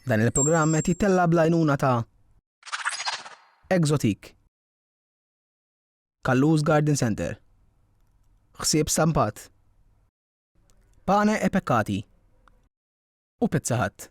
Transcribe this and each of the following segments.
Dan il-programm qed jittella' bl-għajnuna ta' Exotique, Kallus Garden Centre, Ħsieb Stampat, Pane e Peccati u Pizza Hut.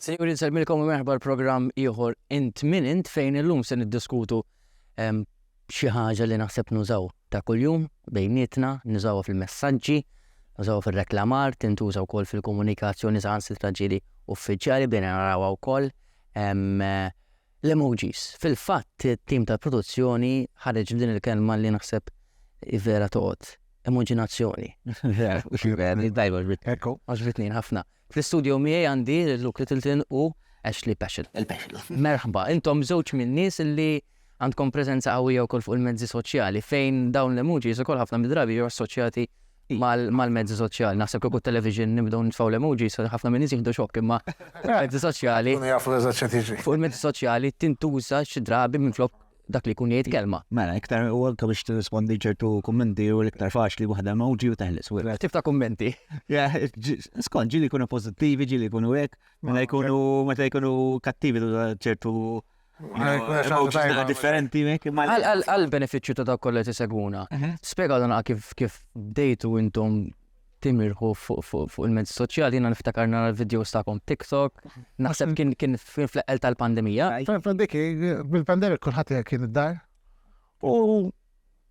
Sinjuri nsellmilkom u merħba l-programm ieħor Int Min Int fejn illum se niddiskutu ehm, xi ħaġa li naħseb nużaw ta' kuljum bejnietna, nużawha fil-messaġġi, nużawha fir-reklamar, tintuża wkoll fil-komunikazzjoni saħansitra ġieli uffiċjali bejn narawha wkoll ehm, l-emojis. Fil-fatt it-tim tal-produzzjoni ħareġ din il-kelma li naħseb vera toqgħod. Immaġinazzjoni. Dajba ġbit. Ekku. Għaġbitni ħafna. Fl-istudio miegħi għandi lil Luke Littleton u Ashley Peschel. Il-Peschel. Merħba, intom żewġ min-nies li għandkom preżenza qawwija wkoll fuq il-mezzi soċjali fejn dawn l-emojis ukoll ħafna mid-drabi jiġu assoċjati mal-mezzi soċjali. Naħseb kieku television nibdew nitfgħu l-emojis, ħafna minn nies jieħdu xokk imma mezzi soċjali. Jafu eżatt x'qed jiġri. Fuq il-mezzi soċjali tintuża xi drabi minflok dak li jkun jgħid kelma. Mela, iktar u anke biex tirrispondi ċertu kummenti u l-iktar faċli waħda emoji u teħles. Mela, tip ta' kummenti. Skont ġili jkunu pożittivi, ġili jkunu hekk, mela jkunu meta jkunu kattivi ċertu differenti għal benefiċċju ta' dawk kollha tisegwuna. Mhm. Spjega dan kif bdejtu intom timirħu fuq il-mezzi soċjali, jiena niftakar nara l-videos tagħkom TikTok, naħseb kien kien fl-eqqel tal-pandemija. Dik bil-pandemija kulħadd kien id-dar. U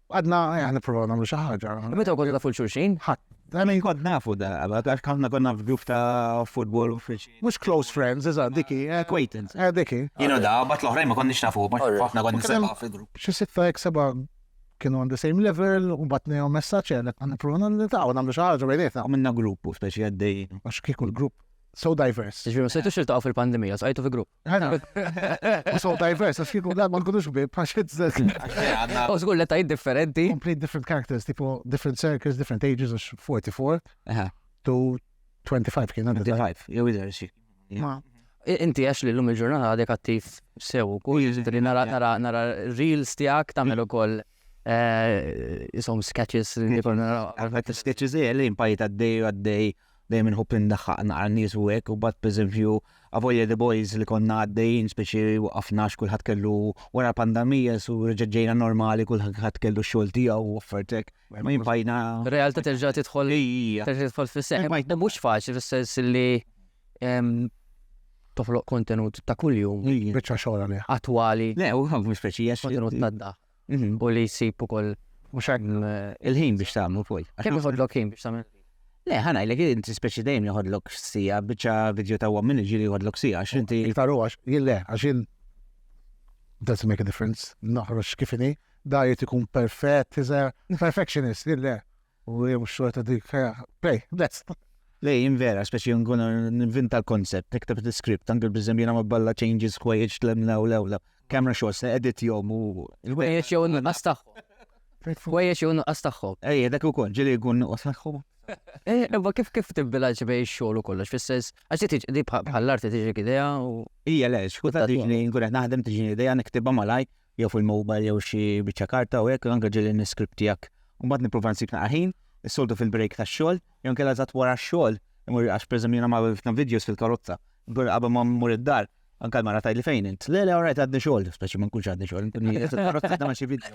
għadna eh, nipprovaw nagħmlu xi ħaġa. Meta kont nafu l-xulxin? Ħadd. Għamin kont nafu da, għax konna konna f'grupp ta' football u friċi. Mux close friends, iżda, diki. Eh, Acquaintance. Eh, diki. Jino da, bat l-oħrajn ma konniex nafu, ma xafna konna nisabba fil-grupp. Xi sitta jek seba kienu on the same level, u bat nejom messaċ għalek għan pruna nil-ta' u namlu xaħġa bejnietna. Għamilna grupp u speċi għaddej. Għax kieku l-grupp so diverse. Ġviri, ma sejtu xiltaqaw fil-pandemija, għajtu fi grupp. So diverse, għax kieku għad ma nkunux bib, għax izzet. U zgur l tajt differenti. Complete different characters, tipo different circles, different ages, għax 44 to 25 kien għandu. 25, jew idher xie. Ma, inti għax li l-lum il-ġurnata għadek attiv sew, kull li nara nara nara reels tijak tamel u koll eh, jisom sketches li koll nara. Għafet sketches eh, li impajt għaddej u għaddej dejjem inħobb indaħħaq naqra nies u hekk u bat pereżempju avolja the boys li konna għaddejjin speċi waqafna kulħadd kellu wara pandemija su reġġejna normali kulħadd kellu xogħol tiegħu u offertek Realtà terġa' tidħol terġa' tidħol fis-seħħ. U mhux faċli fis-sens li toħloq kontenut ta' kuljum. Biċċa xogħol għalih. Attwali. Le, u ħafna speċi jax. Kontenut tadda. Mhm. U li jsib ukoll. Mhux hekk eh, il-ħin biex tagħmlu fuq. Kemm iħodlok ħin biex tagħmel? Le, ħana, l inti speċi dejjem jħodlok sija, biċċa video ta' għom minni ġili jħodlok sija, għax inti. Iktar u għax, jille, għax jinn. Doesn't make a difference, naħroġ kifini. Dajjet ikun perfett, iżer, perfectionist, le. U jem xorta dik, pej, best. Le, jien vera, speċi nkun nvinta l-koncept, tikteb l-script, anke bizzem jena ma balla changes kwejġ tlemna u lewla. Camera shots, edit jom u. Kwejġ jew nuqqas tagħhom. Kwejġ jew nuqqas tagħhom. Ej, dak ukoll, ġieli jkun nuqqas tagħhom. Eh, imma kif kif tibbilanċ bej xogħol u kollox fis-sens għax tiġi di bħall-arti tiġi idea u. Ija le, xkuta tiġi nkun qed naħdem tiġi idea niktibha malaj jew fil-mobile jew xi biċċa karta u hekk, anke ġieli n-iskript tiegħek. U mbagħad nipprova nsib naqra ħin, is-soltu fil-break tax-xogħol, jew inkella eżatt wara x-xogħol, imur għax pereżempju jiena magħmel ħafna videos fil-karozza, inkun qabel ma mmur id-dar, anke l-mara tgħidli fejn int. Le, le, all right, għadni xogħol, speċi ma nkunx għadni xogħol, inkun qiegħed fil-karozza nagħmel xi video.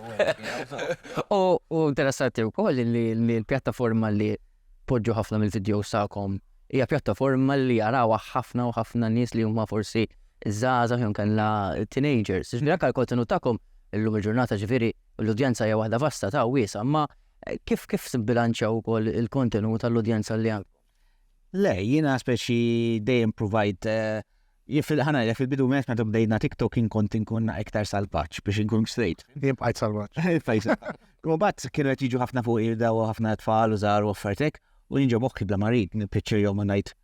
U interessanti wkoll li l-pjattaforma li Poġġu ħafna mill-vidjows tagħkom. Hija pjattaforma li jarawha ħafna u ħafna nies li huma forsi żgħażagħ jew inkella teenagers. Jiġifieri anke l-kontenut tagħkom illum il-ġurnata ġifieri l-udjenza hija waħda vasta ta' wiesgħa, imma kif kif tibbilanċjaw ukoll il-kontenut għall-udjenza li għandkom? Le, jiena speċi dejjem pruvajt Jien fil-ħa ngħidlek fil-bidu meta meta bdejt nagħtik talking kont inkun iktar salvaġġ biex inkun straight. Jien bqajt salvaġġ. U bat kienu qed jiġu ħafna fuq irda u ħafna tfal u żgħar u affertek u jinġob okki bla marid nippiċċir jew ma ngħid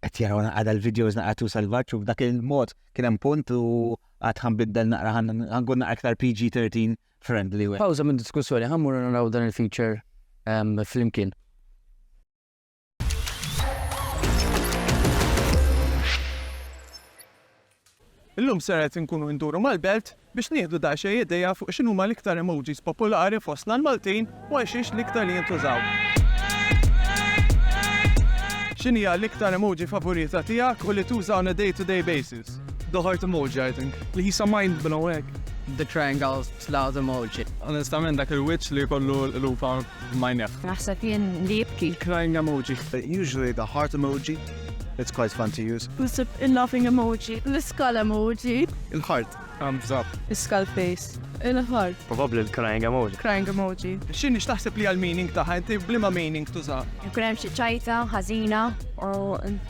qed jaraw naqgħada l-videos naqgħatu salvaġġ u b'dak il-mod kien hemm punt u għad ħanbiddel naqra ħankun naqra iktar PG-13 friendly. Pawża minn diskussjoni ħammur naraw dan il-feature flimkien. Illum ser qed inkunu induru mal-belt biex nieħdu daqsxejn idea fuq x'inhuma l-iktar emojis popolari fostna l-Maltin u għal xiex l-iktar jintużaw. X'inhija l-iktar emoji favorita tiegħek u li tuża on a day-to-day basis? The heart emoji, I think. Li jisa mind blowing. The triangle cloud emoji. Onestament dak il-wiċċ li jkollu l-lupa B'majnejh. Naħseb jien li jibki. Crying emoji. Usually the heart emoji. It's quite fun to use. Naħseb il-laughing emoji. L-iskull emoji. Il-heart. Thumbs up. L-iskull face. Il-heart. Probabbli l-crying emoji. Crying emoji. X'inhi x'taħseb li hija l-meaning tagħha? Inti b'liema meaning tużaha? Jkun hemm xi ċajta ħażina u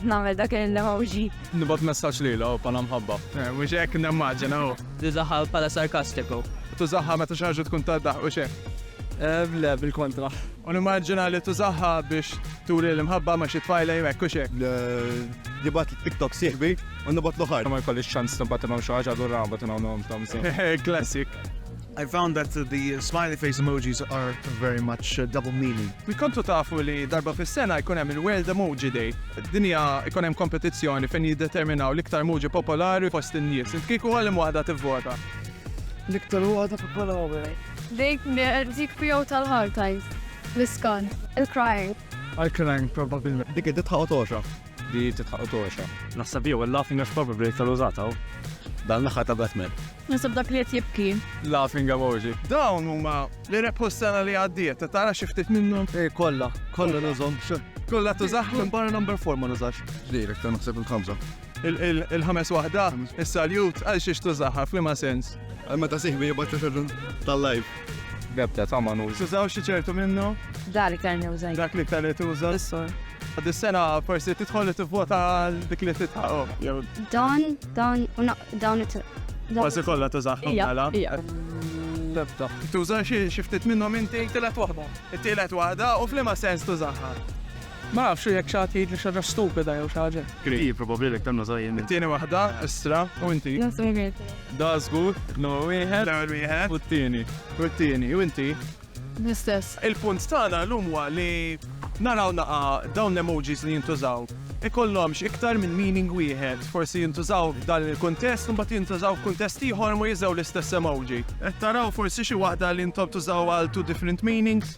nagħmel dak l-emoji. Nibgħat messaġġ lilha u bħala mħabba. Mhux hekk nimmaġina u. Tużaha bħala sarkastiku. Tużaha meta xi ħaġa tkun taddaħ u x'hekk. Le, bil-kontra. U nimmaġina li tużaha biex turi l-imħabba ma' xi tfajla jew hekk u x'hekk. Nibgħat TikTok sieħbi u nibgħat l-oħar. Ma jkollix ċans nibgħat inhom xi ħaġa allura nibgħat inhom nagħmel ta' mżegħ. Classic. I found that the smiley face emojis are very much uh, double meaning. Mi kontu tafu li darba fis-sena jkun hemm il-World Emoji Day. Dinja jkun hemm kompetizzjoni fejn jiddeterminaw l-iktar emoji popolari fost in-nies. Kieku għalim waħda tivvota. L-iktar waħda popolari. Dik mhijiex dik tiegħu tal-hard times. L-iskan. Il-crying. Il-crying probabbilment. Dik it-titħaq u togħxa. Di titħaq u togħxa. Naħseb jew il-laughing għax probably iktar użat hawn. Dan l-aħħar ta' Batman. Naħseb dak li qed jibki. Laughing emoji. Dawn huma li rebħu s-sena li għaddiet. Tara xi ftit minnhom? Eh, kollha. Kollha nużhom. Kollha tużah minn barra number 4 ma nużax. Direk ta' naħseb il-ħamsa. Il-ħames waħda, is-saljut, għal xiex tużaha, f'liema sens? Għal meta sieħbi jibgħat messaġġ tal-live. B'ebda tama nuża. Tużaw xi ċertu minnu? Dak li ktar nuża. Dak li ktar li tuża. Is-sol. Għad is-sena forsi tidħol li tivvota għal dik li titħaqo. Dawn, dawn, dawn it Kważi kollha tużaħħom għala. B'ebda. Tuża xi ftit minnhom inti tielet waħda. It-tielet waħda u f'liema sens tużaħħa. Ma nafx jekk xi ħadd jgħidli xi ħaġa stupida jew xi ħaġa hekk. Hi probabbli li aktar nuża jien. It-tieni waħda, Istra. U inti? Naħseb hekk qed. Da żgur, l-ewwel wieħed. L-ewwel wieħed. U t-tieni. U t-tieni. U inti? L-istess. Il-punt tagħna llum huwa li naraw naqa' dawn l-emojis li jintużaw ikollhomx iktar minn meaning wieħed. Forsi jintużaw f'dan il-kuntest u mbagħad jintużaw f'kuntest ieħor u ma jiżgħu l-istess emoji. Qed taraw forsi xi waħda li intom tużaw għal two different meanings?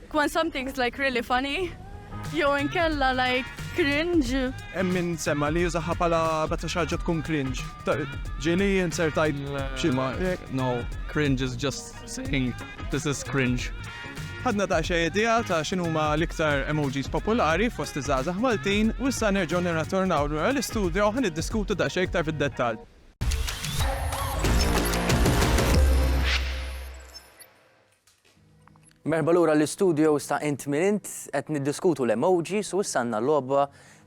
When something's like really funny jew inkella like cringe. Hemm min semma li jużaha bħala meta xi ħaġa tkun cringe. Ġieli inser tgħid xi ma. No, cringe is just saying this is cringe. Ħadna ta' xi idea ta' x'inhuma l-iktar emojis popolari fost iż-żgħażagħ Maltin u issa nerġgħu nirratornaw lura l-istudjo u niddiskutu da' xejn iktar fid-dettall. Merħba lura l-istudios ta' Int Min Int, qed niddiskutu l-emojis u issa għandna logħba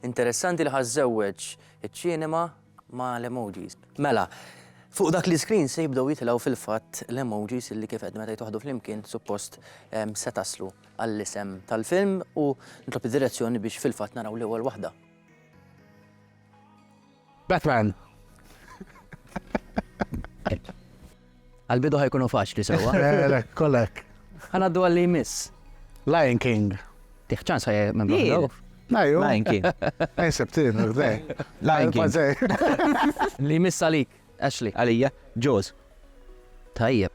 interessanti li ħa żżewweġ iċ-ċinema ma' l-emojis. Mela, fuq dak l-iscreen se jibdew jitilgħu fil-fatt l-emojis illi kif għedt meta jitwaħħdu flimkien suppost se taslu għall-isem tal-film u nitlob id-direzzjoni biex fil-fatt naraw l-ewwel waħda. Batman! Għal-bidu ħajkunu faċli sewa. Lek, kollek. Għanaddu għalli jmiss. Lion King. Tiħċan sa' minn bħal Najju. Lion King. Ej, septin, għdej. Lion King. Li jmiss għalik, Ashley. Għalija, Jaws. Tajjeb.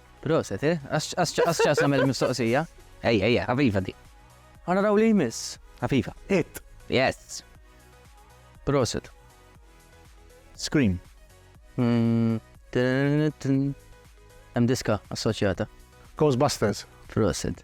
Proset, eh? Għax ċas namel mistoqsija? Ejja, ejja, għaviva di. Għana raw li jmiss. Għaviva. It. Yes. Proset. Scream. Mm, Hemm diska assoċjata. Ghostbusters. Proset.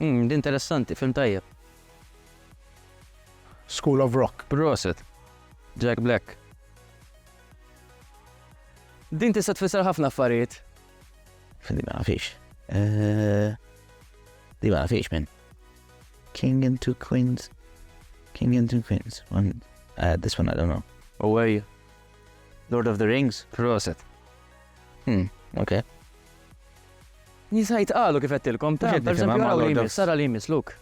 Umm, interessanti, film tajjeb. School of Rock. Proset. Jack Black. Din tista' tfisser ħafna affarijiet. Din ma nafix. Eh, din ma nafix minn. King and two queens. King and two queens. One, uh, this one I don't know. Away. Lord of the Rings. Proset. Hmm, okay. Nisa jitqalu kif għedtilkom, ta, per eżempju araw li jmiss, ara li jmiss, Luke.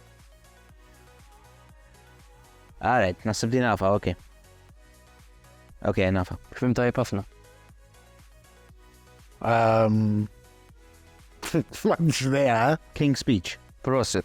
Alright, nasib li nafa, ok. Ok, nafa. Fim tajb ħafna. Um, King's Speech. Prosit.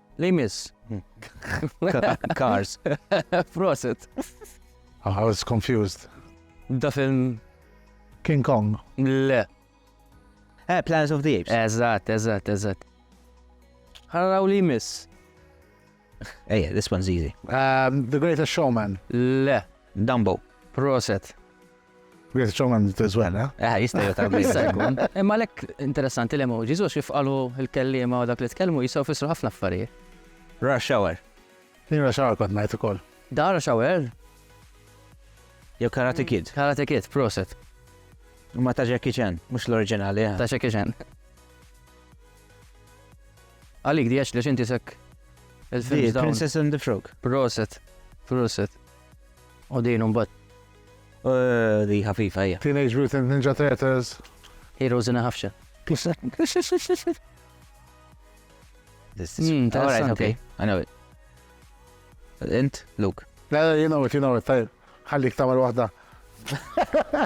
Li jmiss. Cars. Prosit. I was confused. Da film. King Kong. Le. Eh, Planet of the Apes. Eżatt, eżatt, eżatt. Għaraw li jmiss. Ejja, eh, this one's easy. Um, the Greatest Showman. Le. Dumbo. Proset. Wieħed xogħol għandu teżwela. Eh, jista' jgħid jista' jkun. Imma lek interessanti l-emojis u xif qalu l-kelliema u dak li tkellmu jistgħu fissru ħafna affarijiet. Rush hour. Din rush hour kont ngħid ukoll. Da rush hour? Jew Karate Kid. Karate Kid, proset. Ma ta' Jackie Chan, mhux l-oriġinali. Eh. Ta' Jackie Chan. Għalik di li xinti sekk il-film. Princess and the Frog. Proset. Proset. U din un bat Ooh, di ħafifa hija. Teenage Mutant Ninja Turtles. Heroes in a Half Shell. Hmm, Alright, okay. I know it. Int, Luke. La, you know it, you know it, tajb. Ħallik tamar waħda.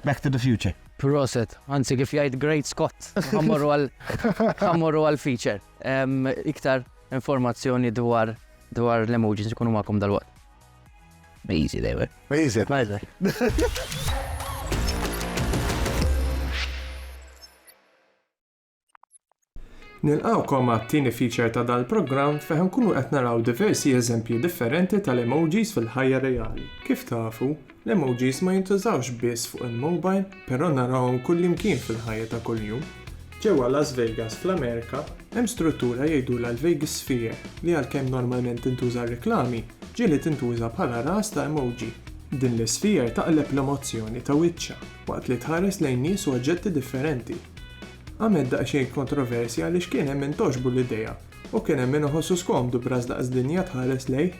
Back to the future. Proset, anzi kif jgħid Great Scott, ħammorru għal ħammorru għal feature. Em, Iktar informazzjoni dwar dwar l-emojis ikunu magħkom dal-waqt. Mejzi lewe. Mejzi, tajlek. Nilqawkom għat-tieni feature ta' dal-programm fejn nkunu qed naraw diversi eżempji differenti tal-emojis fil-ħajja reali. Kif tafu, l-emojis ma jintużawx biss fuq il-mobile, però narawhom kullimkien fil-ħajja ta' kuljum. Ġewwa Las Vegas fl-Amerika, hemm struttura jgħidulha l-Vegas Sphere li għalkemm normalment tintuża għar-reklami, ġieli tintuża bħala ras ta' emoji. Din l-isphere taqleb l-emozzjoni ta' wiċċha waqt li tħares lejn nies u oġġetti differenti. Għamilt daqsxejn kontroversja għaliex kien hemm min togħġbu l-idea u kien hemm min iħossu skomdu b'ras daqs dinja tħares lejh.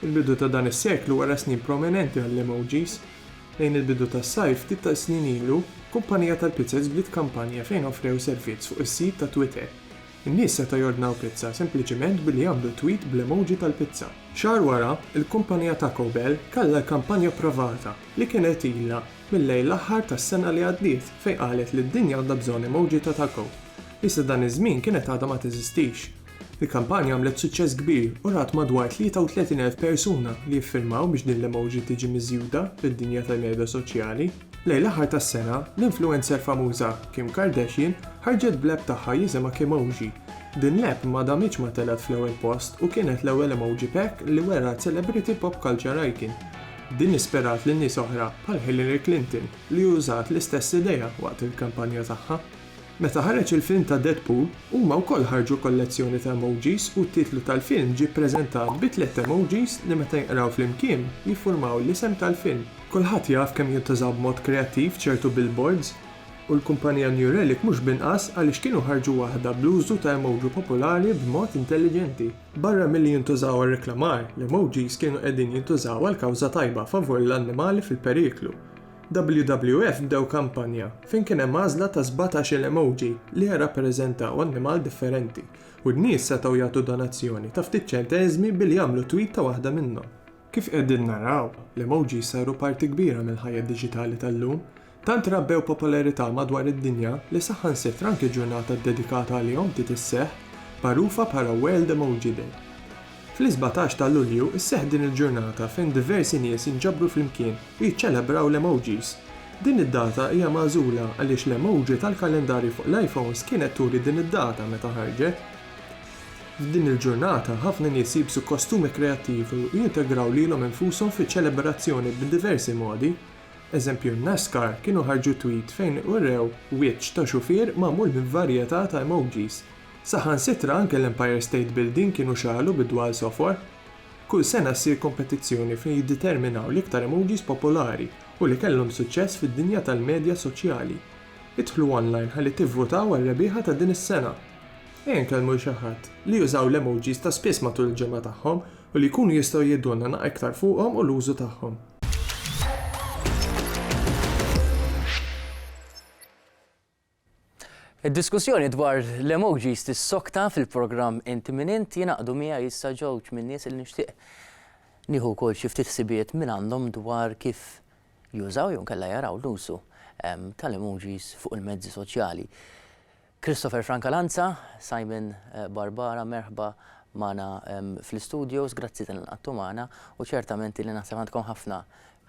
Il-bidu ta' dan is-seklu wera snin prominenti għall-emojis, Lejn il-bidu tas-sajf ftit tas-snin ilu, kumpanija tal-pizzas bdiet kampanja fejn offrew servizz fuq is-sit ta' Twitter. In-nies setgħu jordnaw pizza sempliċiment billi jagħmlu tweet bl-emoji tal-pizza. Xahar wara, il-kumpanija Taco Bell kellha l-kampanja provata li kienet ilha mil-lejl l-aħħar tas-sena li għaddiet fejn qalet li d-dinja għandha bżonn emoji ta' taco. Iżda dan iż-żmien kienet għadha ma teżistix. Il-kampanja għamlet suċċess kbir u rat madwar 33,000 persuna li jiffirmaw biex din l-emoji tiġi miżjuda fid-dinja tal-medja soċjali. Lejn l-aħħar tas-sena, l-influencer famuża Kim Kardashian ħarġet bl-app tagħha jisimha Kimoji. Din l-app ma damitx ma telgħet fl-ewwel post u kienet l-ewwel emoji pack li wera celebrity pop culture icon. Din ispirat lil nies oħra bħal Hillary Clinton li użat l-istess idea waqt il-kampanja tagħha. Meta ħareġ il-film ta' Deadpool, huma wkoll ħarġu kollezzjoni ta' emojis u t-titlu tal-film ġie ppreżentat bi tliet emojis li meta jinqraw flimkien jiffurmaw l-isem tal-film. Kulħadd jaf kemm jintużaw b'mod kreattiv ċertu billboards, u l-kumpanija New Relic mhux b'inqas għaliex kienu ħarġu waħda bl-użu ta' emoji popolari b'mod intelliġenti. Barra milli jintużaw għar-reklamar, l-emojis kienu qegħdin jintużaw għal kawża tajba favur l-annimali fil-periklu. WWF bdew kampanja fejn kien hemm għażla ta' sbatax-il emoji li jirrappreżentaw annimal differenti u n-nies setgħu jagħtu donazzjoni ta' ftit ċenteżmi billi jagħmlu tweet ta' waħda minnhom. Kif qegħdin naraw, l-emojis saru parti kbira mill-ħajja diġitali tal-lum, tant rabbew popolarità madwar id-dinja li saħansitra anki ġurnata ddedikata għalihom bdiet isseħħ, magħrufa bħala World Emoji Day. Fl-isbatax ta' Lulju sseħħ din il-ġurnata fejn diversi nies jinġabru flimkien u jiċċelebraw l-emojis. Din id-data hija magħżula għaliex l-emoji tal-kalendarju fuq l-iPhones kienet turi din id-data meta ħarġet. F'din il-ġurnata ħafna nies jilbsu kostumi kreattivi u jintegraw lilhom infushom fiċ-ċelebrazzjoni b'diversi modi. Eżempju, Nascar kienu ħarġu tweet fejn urew wiċċ ta' xufier magħmul minn varjetà ta' emojis. Saħansitra anke l-Empire State Building kienu xagħlu bid-dwal sofor. Kull sena ssir kompetizzjoni fejn jiddeterminaw l-iktar emojis popolari u li kellhom suċċess fid-dinja tal-medja soċjali. Idħlu online ħalli tivvutaw għar-rebbieħa ta' din is-sena! Ejja nkellmu 'l xi ħadd li jużaw l-emojis ta' spiss matul il-ġimgħa tagħhom u li jkunu jistgħu jgħidulna naq iktar fuqhom u l-użu tagħhom. Id-diskussjoni dwar l-emojis tissokta fil-programm Inti Min Int, jingħaqdu miegħi issa ġewġ min-nies li nixtieq nieħu wkoll xi ftit ħsibijiet minn għandhom dwar kif jużaw jew inkella jaraw l-użu tal-emojis fuq il-mezzi soċjali. Christopher Franca Lanza, Simon Barbara, merħba magħna fl-istudios, grazzi tal-li nqagħdtu magħna u ċertament li naħseb għandkom ħafna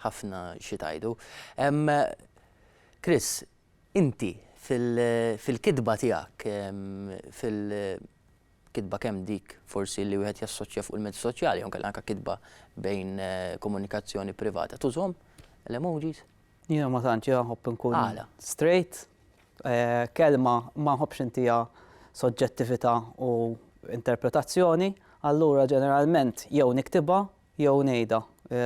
ħafna xi tgħidu. Chris, Inti, fil-kitba tiegħek, fil-kitba kemm dik forsi li wieħed jassoċja fuq il-mezzi soċjali jew inkella anke kitba bejn komunikazzjoni privata, tużhom l-emojis? Jiena ma tantx, jiena nħobb inkun straight. Kelma ma nħobbx intiha soġġettività u interpretazzjoni, allura ġeneralment jew niktibha, jew ngħidha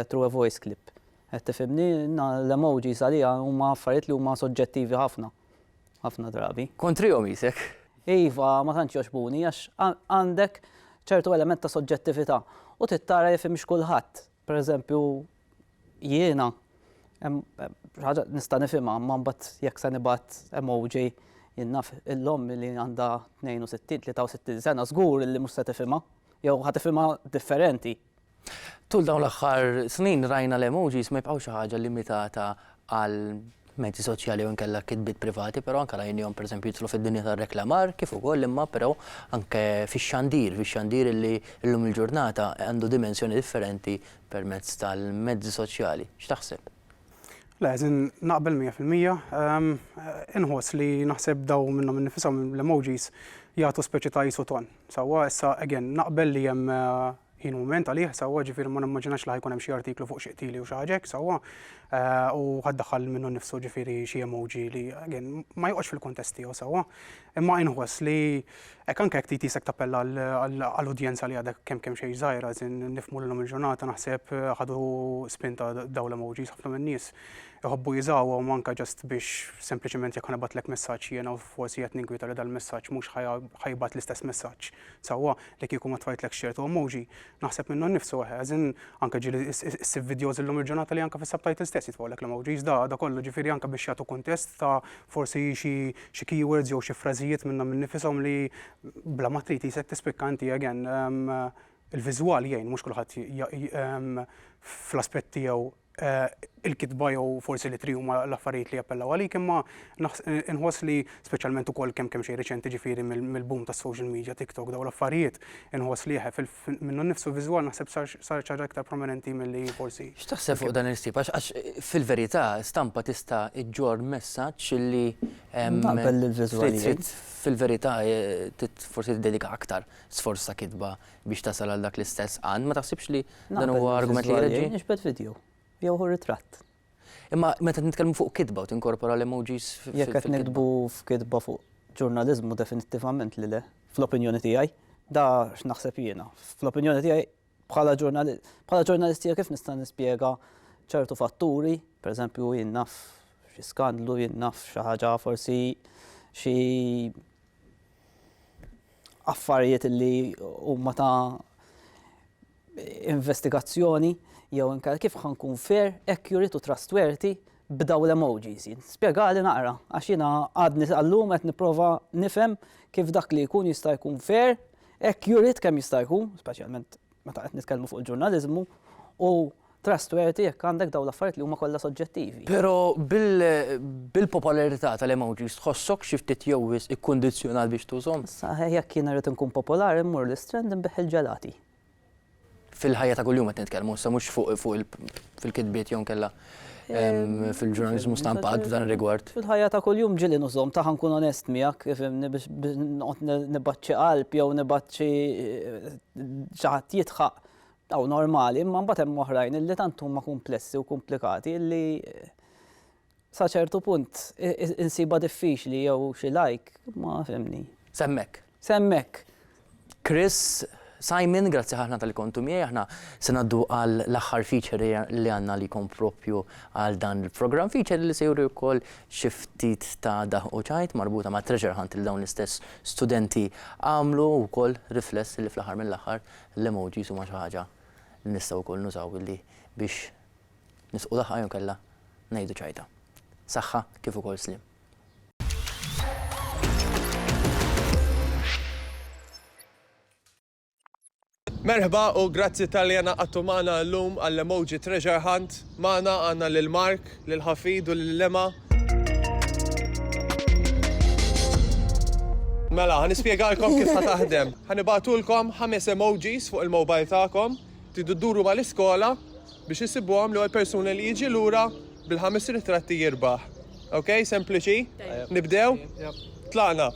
through a voice clip. Qed tifhimni? L-emojis għalija huma affarijiet li huma soġġettivi ħafna, ħafna drabi. Kontrihom qisek? Iva, ma tantx jogħġbuni għax għandek ċertu element ta' soġġettività u trid tara jekk fhimx kulħadd. Pereżempju, jiena hemm xi ħaġa nista' nifhimha imma mbagħad jekk se nibgħat emoji jien naf il-omm li għandha 62, 63 sena żgur li mhux se tifhimha. Jew ħa tifhimha differenti. Tul dawn l-aħħar snin rajna l-emojis ma jibqgħux xi ħaġa limitata għal mezzi soċjali jew inkella kitbiet privati, però anke rajnihom pereżempju jidħlu fid-dinja tar-reklamar kif ukoll imma però anke fix-xandir, fix-xandir li llum il-ġurnata għandu dimensjoni differenti permezz tal-mezzi soċjali. X'taħseb? Le, żin naqbel mija fil-mija. Inħoss li naħseb daw minnhom innifishom l-emojis jagħtu speċi ta' isu ton. Sewwa, issa, again, naqbel li hemm ħin u mument għalih, sewwa, ġifieri ma nimmaġinax li ħa jkun hemm xi artiklu fuq xi qtili u xi ħaġa hekk, sewwa, u ħa ddaħħal lil minnu nnifsu, ġifieri, xi emoji li, again, ma joqgħodx fil-kuntest tiegħu, sewwa. Imma inħoss li hekk anke jekk tqisek tappella għal udjenza li għadha kemm kemm xejn żgħira, as in, nifhmu li llum il-ġurnata naħseb ħadu spinta dawn l-emojis ħafna min-nies. iħobbu jużawhom anke ġast biex sempliċement jekk ħa nibgħatlek messaġġ jiena u forsi qed ninkwieta li dal-messaġġ mhux ħa jibgħat l-istess messaġġ sewwa li kieku ma tfajtlekx ċertu emoji. Naħseb minnu nnifsu eħe, as in anke ġieli ssib videos illum il-ġurnata li anke fis-subtitles stess jitfgħulek l-emojis, da da kollu ġifieri anke biex jagħtu kuntest ta' forsi xi xi keywords jew xi frażijiet minnhom innifishom li bla ma trid qisek tispikka inti again il-viżwal jgħin mhux kulħadd fl-aspett tiegħu il-kitba jew forsi l-ittri huma l-affarijiet li jappellaw għalik imma inħoss li speċjalment ukoll kemm kemm xejn riċenti ġifieri mill-boom tas-social media, TikTok dawn l-affarijiet, inħoss li eħe minnu nnifsu viżwal naħseb sar xi ħaġa iktar prominenti milli forsi. X'taħseb fuq dan il-ħsieb? Għax fil-verità stampa tista' iġġorr messaġġ li fil-verità forsi tiddedika aktar sforz ta' kitba biex tasal għal dak l-istess għan, ma taħsibx li dan huwa argument li jreġġi? Nixbet video, jew hu ritratt. Imma meta nitkellmu fuq kitba u tinkorpora l-emojis fil-kitba. Jekk qed nitbu f'kitba fuq ġurnaliżmu definittivament li le, fl-opinjoni tiegħi. Da x'naħseb jiena. Fl-opinjoni tiegħi bħala ġurnalistija kif nista' nispjega ċertu fatturi, pereżempju jien naf xi skandlu, jien naf xi ħaġa forsi xi affarijiet li huma ta' investigazzjoni jew inkella kif ħa nkun fair, accurate u trustworthy b'dawn l-emojis? Spjegali naqra għax jiena għadni sal-lum qed nipprova nifhem kif dak li jkun jista' jkun fair, accurate kemm jista' jkun, speċjalment meta qed nitkellmu fuq il-ġurnaliżmu, u trustworthy jekk għandek dawn l-affarijiet li huma kollha soġġettivi. Però bil-popolarità tal-emojis tħossok xi ftit jew wisq ikkundizzjonat biex tużhom? Saħħa jekk jien irrid inkun popolari mmur l-Istrand inbigħ il-ġelati. Fil-ħajja ta' kuljum qed nitkellmu issa mhux fuq fil-kitbiet jew inkella. fil-ġurnalizmu stampat f'dan rigward. Fil-ħajja ta' kuljum ġili nużom ta' ħankun onest miegħek, fimni biex nibaċċi qalb jew nibaċċi eh, ċaħat jitħaq taw normali, imma mbagħad hemm oħrajn illi tant huma kumplessi u komplikati illi eh, sa ċertu punt insiba diffiċli jew xi lajk ma fimni. Semmek. Se hemmhekk. Chris, Simon, grazzi ħafna talli kontu miegħi. Aħna se ngħaddu għal l-aħħar feature li għandna għalikom proprju għal dan il-programm. Feature li se juri wkoll xi ftit ta' daħq u ċajt marbuta ma' treasure hunt li dawn l-istess studenti għamlu u wkoll rifless li fl-aħħar mill-aħħar l-emojis huma xi ħaġa li nistgħu wkoll nużaw billi biex nisqu daħqa jew inkella ngħidu ċajta. Saħħa kif ukoll sliem. Merħba u grazzi talli għanaqadtu magħna llum għall-emoji treasure hunt. Magħna għandna lil Mark, lil Ħafid u lil Lema. Mela, ħan ispjegalkom kif ħa taħdem. Ħan ibatulkom ħames emojis fuq il-mobile tagħkom, tidu dduru mal-iskola Biex issibuhom l-ewwel persuna li jiġi lura bil-ħames ritratti jirbaħ. Ok, sempliċi? Nibdew? Tlaqna!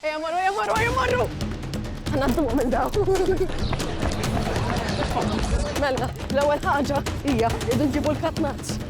Ejja morru, ejja morru, ejja morru! Ħanadduhom minn daw. Mela, l-ewwel ħaġa hija irridu nġibu l-katnaċ.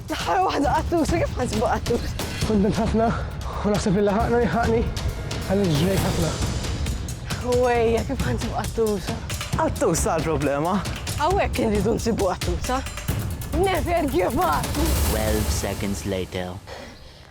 L-aħħar waħda qattusa, kif ħansbu qattusa? Kuntent ħafna u naħseb li laħaqna u jilħaqni għaliex ġrejt ħafna. Ħwejja, kif ħansbu qattusa? Qattusa l-problema. Hawnhekk irridu nsibu qattusa. Never give up! 12 seconds later.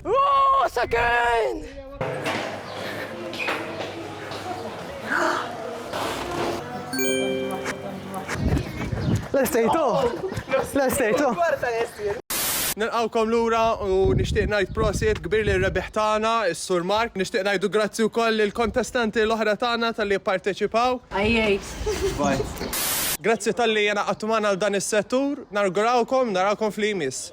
Rosa Kane! Nilqgħukom lura u nixtieq ngħid prosit kbir lil rebbieħ tagħna, is-Sur Mark. Nixtieq ngħidu grazzi wkoll lill-kontestanti l-oħra tagħna talli pparteċipaw. Grazzi talli ingħaqadtu magħna għal dan is-settur. Nawgurawkom narakom f'li jmiss.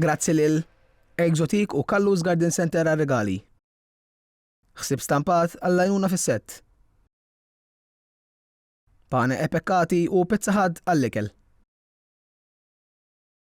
Grazzi lil Exotique u Kallus Garden Center għar-rigali. Ħsieb stampat għall-għajnuna fis-sett. Pane e Peccati u Pizza Hut għall-ikel.